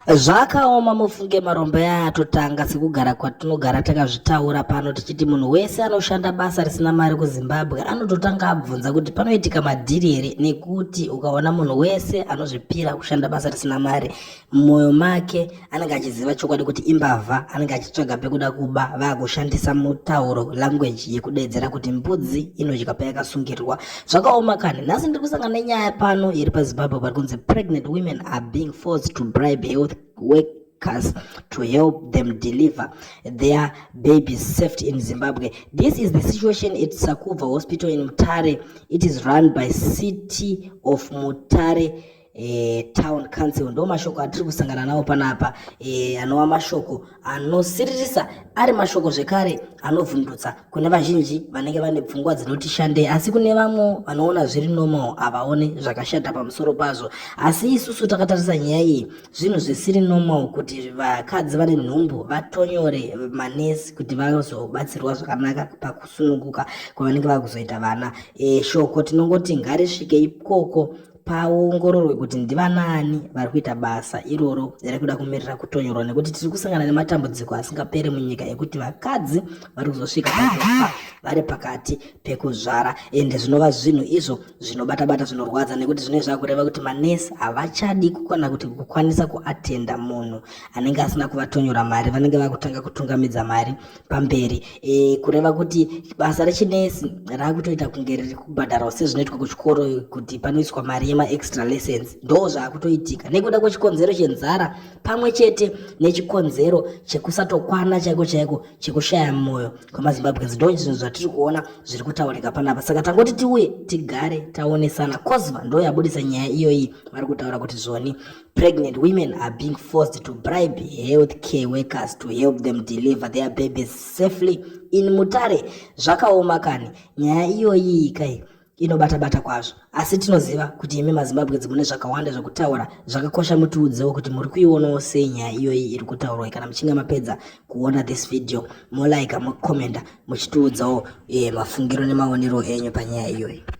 Zvakaoma mufunge marombo aya atotanga sekugara kwatinogara takazvitaura pano tichiti munhu wese anoshanda basa risina mari kuZimbabwe anototanga abvunza kuti panoitika madhiri here nekuti ukaona munhu wese anozvipira kushanda basa risina mari mumwoyo make anenge achiziva chokwadi kuti imbavha anenge achitsvaga pekuda kuba vakushandisa mutauro language yekudeedzera kuti mbudzi inodya payakasungirirwa Zvakaoma kani, nhasi ndiri kusangana nenyaya pano iri paZimbabwe pari kunzi pregnant women are being forced to bribe health work workers to help them deliver their babies safety in Zimbabwe. This is the situation at Sakuva Hospital in Mutare. It is run by City of Mutare e, town council ndo mashoko atiri kusangana nawo panapa e, anova mashoko anosiririsa ari mashoko zvekare anovhundutsa kune vazhinji vanenge vane pfungwa dzinoti shandei asi kune vamwe vanoona zviri normal havaone zvakashata pamusoro pazvo asi isusu takatarisa nyaya iyi zvinhu zvisiri normal kuti vakadzi vane nhumbu vatonyore manesi kuti vazobatsirwa zvakanaka pakusununguka kwavanenge vakuzoita vana e, shoko tinongoti ngarisvike ikoko paongororwe kuti ndivanaani vari kuita basa iroro riri kuda kumirira kutonyorwa nekuti tiri kusangana nematambudziko asingapere munyika ekuti vakadzi vari kuzosvika pakufa vari pakati pekuzvara ende zvinova zvinhu izvo zvinobata-bata zvinorwadza nekuti zvinoi zvava kureva kuti manesi havachadi kukwana kuti kukwanisa kuatenda munhu anenge asina kuvatonyora mari vanenge vakutanga kutungamidza mari pamberi e, kureva kuti basa rechinesi raakutoita kunge riri kubhadharwa sezvinoitwa kuchikoro kuti panoiswa mari yemaextra lessons ndo zvaakutoitika nekuda kwechikonzero chenzara pamwe chete nechikonzero chekusatokwana chaiko chaiko chekushaya mwoyo kwemazimbabweans ndo zvinhu zvatiri kuona zviri kutaurika panapa saka tangoti tiuye tigare taonesana cosva ndo yabudisa nyaya iyoyi vari kutaura kuti zvoni Pregnant women are being forced to bribe health care workers to help them deliver their babies safely in Mutare. Zvakaoma kani, nyaya iyoyi kai inobata-bata kwazvo. Asi tinoziva kuti imi maZimbabwe dzimune zvakawanda zvekutaura zvakakosha mutiudzewo kuti muri kuionawo sei nyaya iyoyi iri kutaurwa kana muchinge mapedza kuona this video molaika mokomenda muchitiudzawo eh, mafungiro nemaonero enyu panyaya iyoyi.